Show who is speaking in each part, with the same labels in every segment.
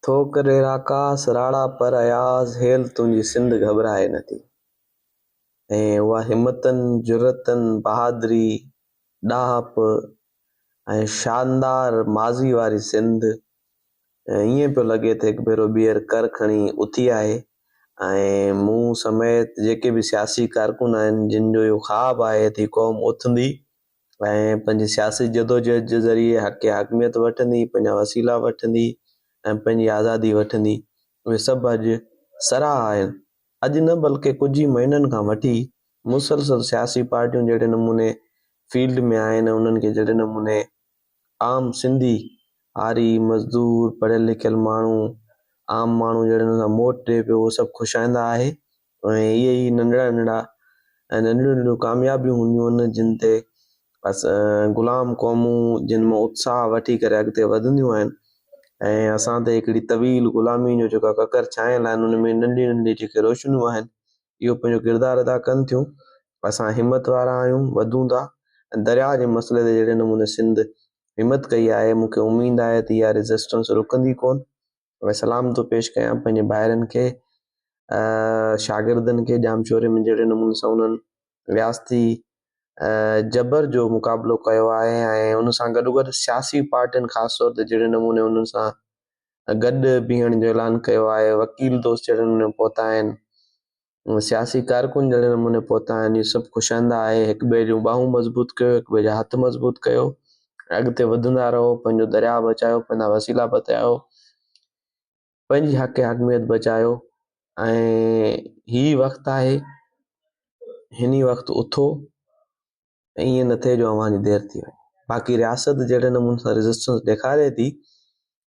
Speaker 1: ٿوڪ ڏي راڪاس راڙا پر اياز هيل تنهنجي سنڌ گهٻرائي نه ٿي ۽ اها همتن، جرئتن، بهادري، ڏاهپ ۽ شاندار ماضي واري سنڌ ائين پيو لڳي ته هڪ ڀيرو ٻيهر ڪر کڻي اٿي آهي ۽ مون سميت جيڪي به سياسي ڪارڪن آهن جن جو اهو خواب آهي ته هي قوم اٿندي ۽ پنهنجي سياسي جدوجهد جي ذريعي حق حاڪميت وٺندي، پنهنجا وسيلا وٺندي ۽ پنهنجي آزادي وٺندي، اهي سڀ اڄ سراهه آهن. اڄ نه بلڪه ڪجهه ئي مهينن کان وٺي مسلسل سياسي پارٽيون جهڙي نموني فيلڊ ۾ آهن ۽ انهن کي جهڙي نموني عام سنڌي، هاري، مزدور، پڙهيل لکيل ماڻهو، عام ماڻهو جهڙن سان موٽ ڏئي پيو اهو سڀ خوشائنده آهي ۽ اهي ئي ننڍڙا ننڍڙا ۽ ننڍڙيون ننڍڙيون ڪاميابيون هونديون آهن جن تي غلام قومون جن مان اتساهه وٺي ڪري اڳتي وڌنديون آهن ۽ اسان تي هڪڙي طويل غلامي جو جيڪا ڪڪر ڇانيل آهن ان ۾ ننڍي ننڍي جيڪي روشنيون آهن اهو پنهنجو ڪردار ادا ڪن ٿيون اسان همت وارا آهيون وڌون ٿا ۽ درياء جي مسئلي تي جهڙي نموني سنڌ همت ڪئي آهي مون کي اميد آهي ته اها ريزسٽنس رڪندي ڪون ۾ سلام ٿو پيش ڪيان پنهنجي ڀائرن کي شاگردن کي ڄامشوري ۾ جهڙي نموني سان انهن رياستي جبر جو مقابلو ڪيو آهي ۽ ان سان گڏو گڏ سياسي پارٽين خاص طور تي جهڙي نموني انهن سان گڏ بيهڻ جو اعلان ڪيو آهي وڪيل دوست جهڙي نموني پهتا آهن سياسي ڪارڪن جهڙي نموني پهتا آهن اهي سڀ خوش آئنده آهي هڪ ٻئي جون ٻانهون مضبوط ڪيو هڪ ٻئي جا هٿ مضبوط ڪيو ۽ اڳتي وڌندا رهو پنهنجو درياء بچايو پنهنجا وسيلا بتايو پنهنجي حق حاڪميت بچايو ۽ هي وقت آهي هن وقت اٿو ۽ ائين نه ٿئي جو اوهان جي دير ٿي وڃي. باقي رياست جهڙي نموني سان ريزسٽنس ڏيکاري ٿي،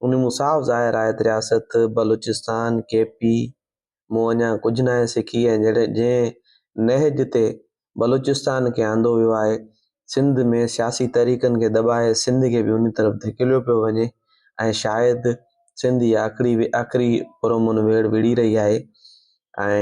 Speaker 1: ان مان صاف ظاهر آهي ته رياست بلوچستان، ڪي پي، مون اڃا ڪجهه ناهي سکي ۽ جهڙي جنهن نهج تي بلوچستان کي آندو ويو آهي، سنڌ ۾ سياسي تحريڪن کي دٻائي سنڌ کي به انهي طرف ڌڪيليو پيو وڃي ۽ شايد سنڌ اها آخري آخري پرامن ويڙهه وڙهي رهي آهي ۽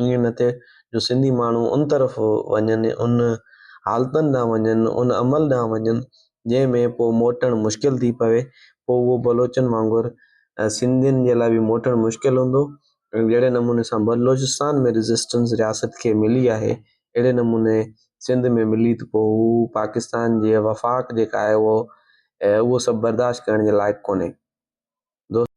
Speaker 1: ائين نه ٿئي جو سنڌي ماڻهو ان طرف وڃن، ان حالتن ڏانهن وڃن، ان عمل ڏانهن وڃن، جنهن ۾ پوء موٽڻ مشڪل ٿي پوي، پوء اهو بلوچن وانگر سنڌين جي لاء به موٽڻ مشڪل هوندو ۽ جهڙي نموني سان بلوچستان ۾ ريزسٽنس رياست کي ملي آهي، اهڙي نموني سنڌ ۾ ملي ته پوء هو پاڪستان جي وفاق جيڪا آهي اهو اهو سڀ برداشت ڪرڻ جي لائق ڪونهي. دوستو!